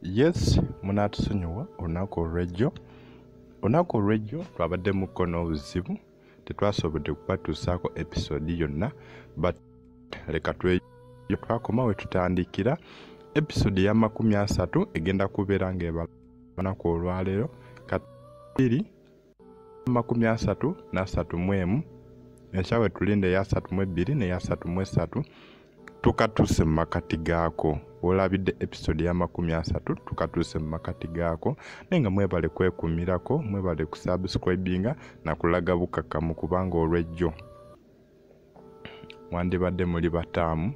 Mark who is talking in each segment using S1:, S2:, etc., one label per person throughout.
S1: yes munaatusonyiwa olunaku olwejjo olunaku olwejjo twabaddemuko n'obuzibu tetwasobodde kubatuusaako episode yonna but leka tweyo twakoma we tutandikira episode ya makumi asatu egenda kubeera ng'ebalaku olwaleero katiri amakumi asatu n'asatu mu emu enkya we tulinda eya asatu mu ebbiri n'eya asatu mu essatu tukatuuse mu makati gaako olabidde episode yamakumi asatu tukatuuse mu makati gaako naye nga mwebale kwekumirako mwebale kusubscribinga nakulaga bukakamu kubanga olwejjo mwandibadde muli bataamu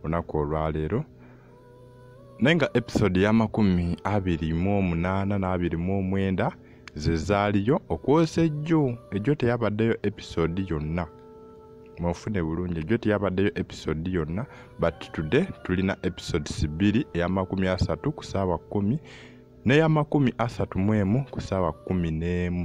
S1: lunaku olwaleero naye nga episode y'amakumi abiri mu omunaana n'abiri mu omwenda ze zaaliyo okwosa ejjo ejjo teyabaddeyo episode yonna mwofune bulungi ejjo teyabaddeyo episode yonna but today tulina episodes bbiri ey'amakumi asatu ku saawa kkumi n'ey'amakumi asatu mu emu ku saawa kkumi n'emu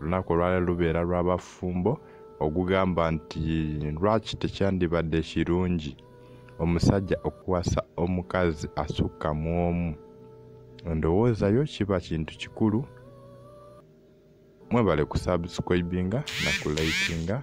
S1: olunaku olwala lubeera lw'abafumbo ogugamba nti lwaki tekyandibadde kirungi omusajja okuwasa omukazi asukka mu omu ndowoozayo kiba kintu kikulu mwebale kusubscribinga na kulikinga